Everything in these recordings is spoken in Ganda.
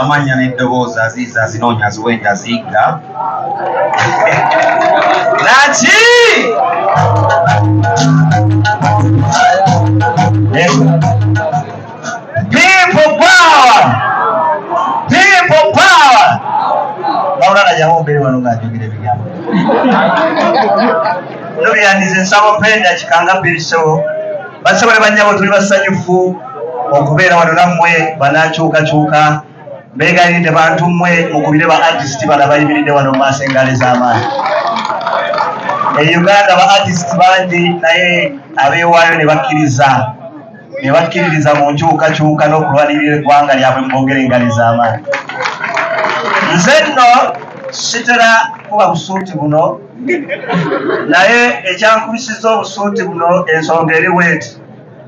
amannya n'eddoboozi aziiza azinoonya aziwa enjaziigga naki yawumbere wano ng'ajogera ebigambo nobyandize nsaba openda kikanga birisewo basobole banyabo tuli basanyufu okubeera wano nammwe banakyukakyuka begayiridde bantu mmwe mukubire ba artist bala bayimiridde wano mu maaso engaali z'amaanyi e uganda ba artist bangi naye abeewaayo ne bakkiriza ne bakkiririza mu nkyukakyuka n'okulwanirira eggwanga lyabwe mu bogere engali z'amaanyi nze nno sitera kuba busuuti buno naye ekyankubisiza obusuuti buno ensonga eriweeti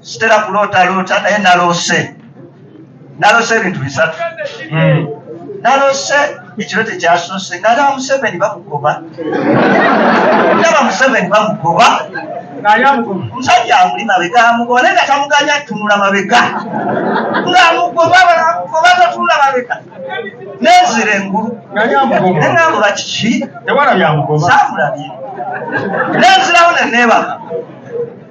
sitera kulootaloota naye naloose naloose ebintu bisatu hmm. naloose ekiro tekyasoose nala museveni bamugoba ndaba museveni bamugoba omusajja amuli mabega amugoba naye nga tamuganya atunula mabega ngaamugoba balamugoba tatunula mabega nenzira engulu nenambula kiki samulabye nenzirawo neneebaka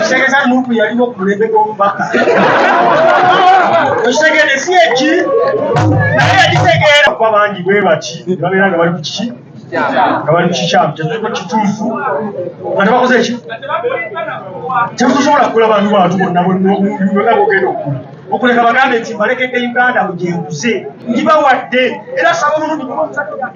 kitegeza nupu yaliwo ku mulembe gw'omubaka ekitegede si eki naye yakitegeera kuba bangi bwe baki babeera nga bali ku kiki nga bali kukikyamu tetuliko kituufu nga tebakoze eki tetusobola kukula bantu bantu bonna bonna bogenda okukula okuleka bagambe nti mbalekedde uganda bwegyenguze ngibawadde era saba omulundi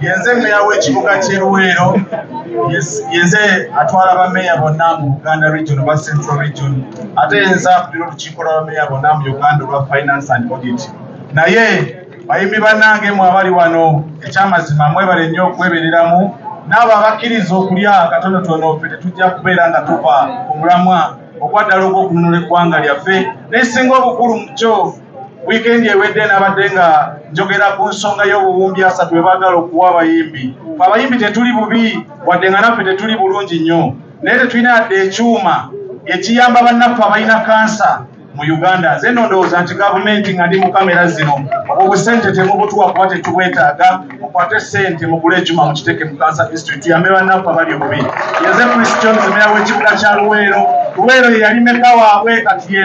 yenze meeya w'ekibuga ky'e Luweero yenze atwala bameeya bonna mu Buganda region oba Central region ate yenze akulira olukiiko lwa bameeya bonna mu Uganda olwa finance and audit naye bayimbi bannange mwe abali wano ekyamazima mwebale nnyo okwebereramu n'abo abakkiriza okulya katonotono ffe tetujja kubeera nga tuva ku mulamwa ogwaddala ogw'okununula eggwanga lyaffe nesinga obukulu mu kyo Wiikendi ewedde nabadde nga njogera ku nsonga y'obuwumbi asatu bwe baagala okuwa abayimbi. Fe abayimbi tetuli bubi wadde nga naffe tetuli bulungi nnyo, naye tetulina yadde ekyuma ekiyamba bannaffe abalina kansa mu Uganda. Nze nno ndowooza nti gavumenti nga ndi mu kamera zino obusente temubutuwa kuba tetubwetaaga, mukwate ssente mugule ekyuma mukiteeke mu kansa district tuyambe bannaffe abali obubi. Yeze Chris Jones meeya w'ekibuga kya Luweero. Luweero ye yali meka waabwe kati ye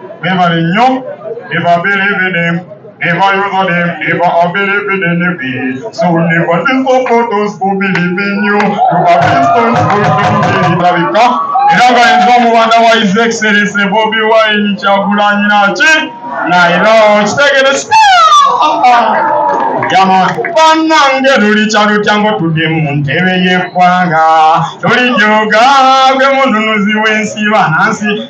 Mwebale nnyo ne babereebe ne nebayoza ne neba abereebe ne nebi so neba ne sokotos bubiri binyu tubabisons bubiri ndabika era nga yenza omubanda wa his excellence bobi wine kyagulanyi naki naira kitegere banange lulikya lutya ngotudde mu ntebe y'eggwanga tulijoga gwe mununuzi w'ensi banansi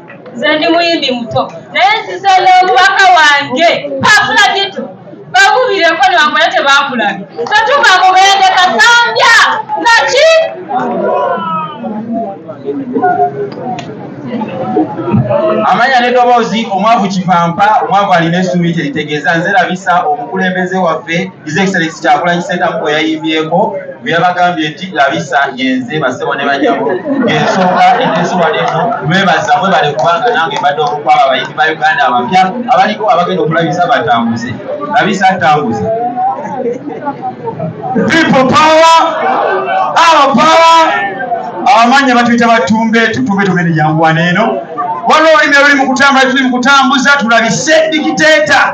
nze ndi muyimbi muto naye nzize n'omubaka wange pakula gitu bakubireko nibakola tebakulabye tetuva mubende kasambya naki amanya nedoboozi omwavu kivampa omwavu alina esuubi kyeritegeeza nze labisa omukulembeze waffe His Excellency Kyagulanyi Ssentamu bwe yayimbyeko bwe yabagambye nti labisa yenze basebo ne banyabo ensonga enteesi wali eno mwebaza mwebale kubanga nange mbadde omukwaba abayimbi ba Uganda abapya abaliko abagenda okulabisa batambuze labisa atambuze people power our power abamannya batuyita batumbe tutumbe tumene janguwana eno waliwo olulimi oluli mu kutambula tuli mu kutambuza tulabise dikiteeta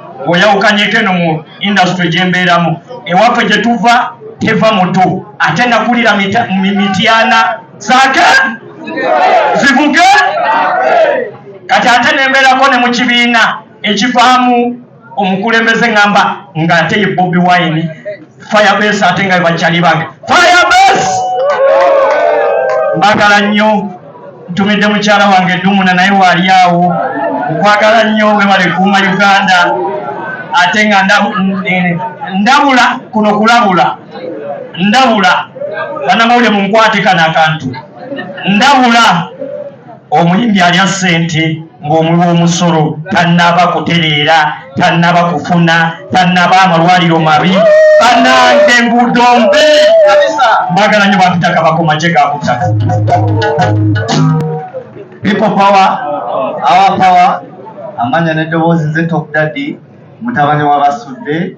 oyawukanyeko eno mu industry gyembeeramu ewaffe gye tuva teva mutu ate nakulira mityana zake zivuge kati ate nembeerako ne mu kibiina ekivaamu omukulembeze ngamba nga ate ye bobi wine firebase ate nga bakyali bange firebase mbagala nnyo ntumidde mukyala wange edumuna naye waali awo okwagala nnyo webale kuuma uganda ate nga ndabula kuno kulabula ndabula banamawulire munkwate kano akantu ndabula omuyimbi alya ssente ng'omuwi w'omusolo tannaba kutereera tannaba kufuna tannaba amalwaliro mabi banange enguudo mbi mbagala nyo bantutaka bakomaje gakutaka people power our power amanya n'eddoboozi ze top daddy mutabani wa basudde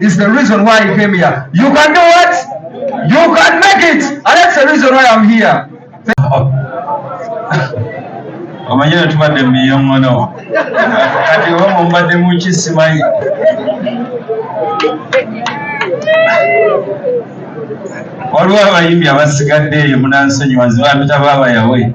is the reason why I came here. You can do what? You can make it. And that's the reason why I'm here. omanyi ne tubadde mumiyoŋono kati oba mumbadde muki simanyi waliwo abayimbi abasigadde eyo munansonyiwa nzibampita baabayawe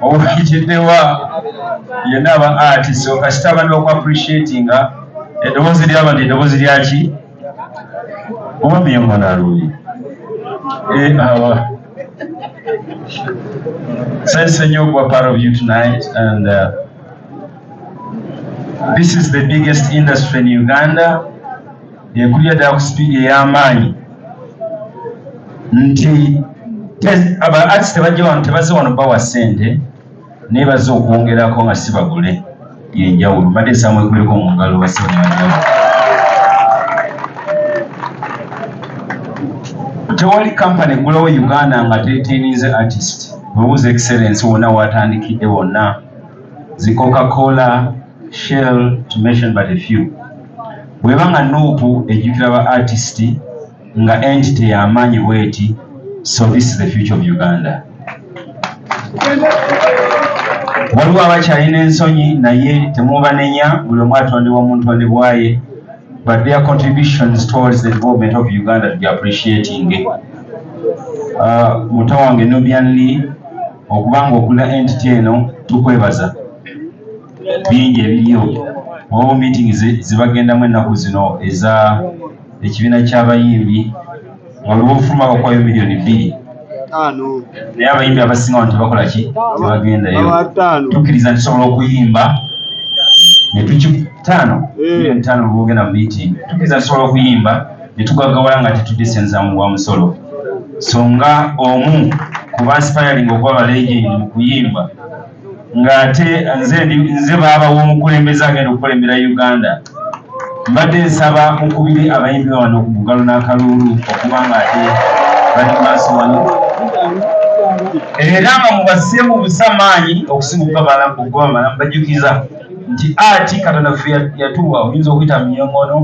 obukijiddewa yenna aba ati so kasita abantu baku appreciatinga eddoboozi lyabantu eddoboozi lyaki omwami yemwana alungi eh, awa sensise nnyo okuba part of you tonight and uh, this is the biggest industry in uganda ekulira ddala ku sipiidi ey'amaanyi nti aba arts tebajja wano tebazze wano bawa ssente naye bazze okwongerako nga si bagule yenjawulo mbadde nsaba mwekuleko mu ngalo basebanjawulo tewali kampani eggulawo uganda nga teteninze artist webuuza excellence wonna watandikidde wonna zikoka kola shell to mention but a few bweba nga nuupu ejjukira ba artist nga entity yamaanyi bweti so this is the future of uganda waliwo abakyalina ensonyi naye temubanenya buli omu atondebwa omuntu ondebwaye but their contributions towards the development of uganda to be appreciating uh, muto wange nubian lee okubanga okula entity eno tukwebaza bingi ebiriyo omu meeting zibagendamu ennaku zino eza ekibiina ky'abayimbi waliwo ofuma bakwayo miliyoni bbiri naye abayimbi abasinga wano tebakola ki tebagendayo tukkiriza ntusobola okuyimba netukitaano eh. miliyoni taano lwogenda mu meeting tukkiriza ntusobola okuyimba netugagawala nga tetudde sente za muwa musolo so nga omu kuba nsipayalinga okuba balegendi mu kuyimba ng'ate nze nze baaba w'omukulembeze agenda okukulembera uganda mbadde nsaba mukubire abayimbi wano ku mugalo n'akaluulu okuba ng'ate bali maaso wano era nga mubase mu busamaanyi okusinga okubabalamu bajjukiza nti ati katonda ffe yatuwa oyinza okuyita mu nyongono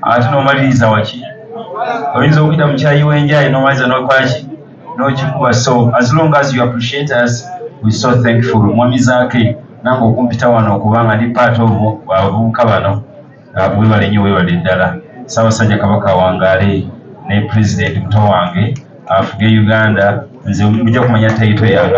ate n'omaliriza waki oyinza okuyita mu kyayi w'enjayi n'omaliriza n'okolaki nokikuba so as long as you appreciate us we so thankful mwami zake nange okumpita wano okuba nga ndi part of abavubuka bano ah, webale nyo webale ddala sabasajja kabaka wangale ne president muto wange afuge uganda nze muja kumanya taito yange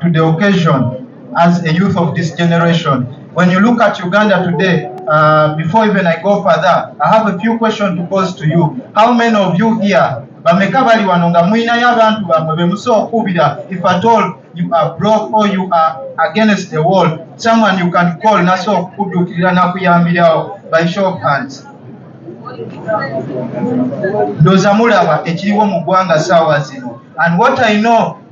to the occasion as a youth of this generation. When you look at Uganda today, uh, before even I go further, I have a few questions to pose to you. How many of you here, bameka bali wano nga mulinayo abantu bamwe bemusobola okuubira if at all you are broke or you are against the wall, someone you can call nasobola okukuddukirira nakuyambirawo by show of hands. Ndoza mulaba ekiriwo mu ggwanga saawa zino and what I know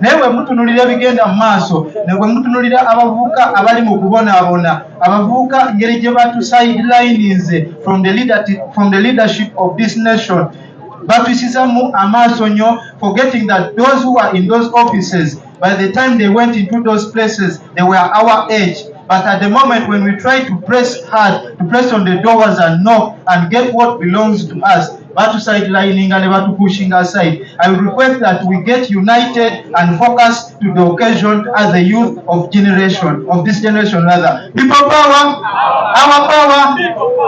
naye bwe mutunulira ebigenda mu maaso ne bwe mutunulira abavubuka abali mu kubonaabona abavubuka ngeri gye batusidelinize from the from the leadership of this nation batwisizamu amaaso nnyo forgetting that those who are in those offices by the time they went into those places they were our age But at the moment when we try to press hard, to press on the doors and knock and get what belongs to us, batu sidelining ne batu pushing aside i would request that we get united and focus to the occasion as a youth of generation of this generation rather people power our power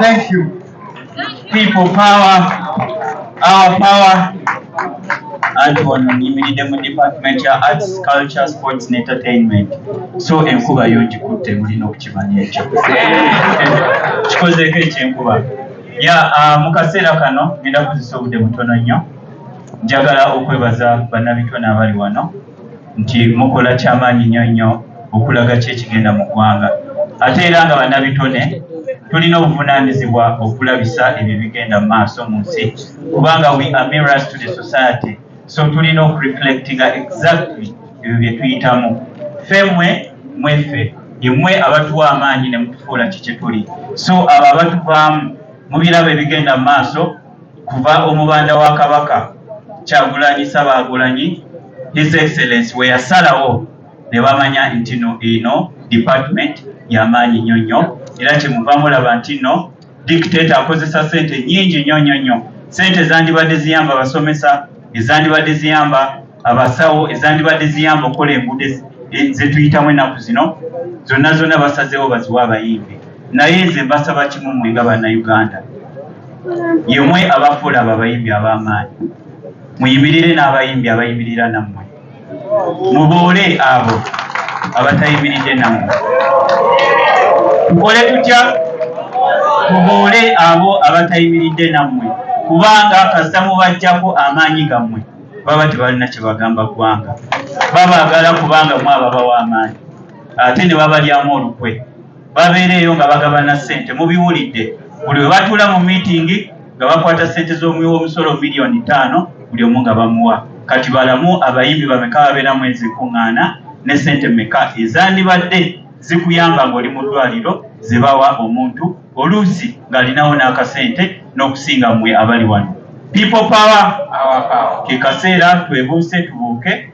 thank you people power our power anti wano nyimiridde mu department ya arts culture sports and entertainment so enkuba yo ngikutte mulina okukimanya ekyo kikozeeko ekyenkuba ya ah, mu kaseera kano ngenda kuzisa obudde butono nnyo njagala okwebaza bannabitone abali wano nti mukola kyamaanyi nnyo nnyo okulaga ki ekigenda mu ggwanga ate era nga bannabitone tulina obuvunaanyizibwa okulabisa ebyo ebigenda mu maaso mu nsi kubanga we are mirrors to the society so tulina oku reflectinga exactly ebyo bye tuyitamu ffe mwe mweffe yemwe abatuwa amaanyi ne mutufuula ki kye tuli so abo abatuvaamu mu birabo ebigenda mu maaso kuva omubanda wa kabaka kyagulanyi sabaagulanyi his excellence we yasalawo ne bamanya nti no eno department ya maanyi nnyo nnyo era kye muva mulaba nti no Dictator akozesa sente nyingi nnyo nnyo nnyo. Sente zandibadde ziyamba abasomesa, ezandibadde ziyamba abasawo, ezandibadde ziyamba okukola enguudo zetuyitamu ennaku zino, zonna zonna basazeewo baziwe abayimbi. Naye nze mbasaba kimu mwe nga bannayuganda, yemwe abafuula abo abayimbi ab'amaanyi, muyimirire n'abayimbi abayimirira nammwe. mubuule abo abatayimiridde namu tukole tutya tubuule abo abatayimiridde nammwe kubanga kasita mubajjako amaanyi gammwe baba tebalina kyebagamba ggwanga babagala kubanga mwababawa amaanyi ate ne babalyamu olukwe babeereeyo nga bagabana ssente mubiwulidde buli we batuula mu miitingi nga bakwata ssente z'omuwi w'omusolo miliyoni ttaano buli omu nga bamuwa kati balamu abayimbi bameka babeera mu ezo enkuŋŋaana ne ssente meka ezandibadde zikuyamba ng'oli mu ddwaliro ze bawa omuntu oluusi ng'alinawo n'akasente n'okusinga mmwe abali wano people power ke kaseera twebuuse tubuuke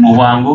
mu bwangu.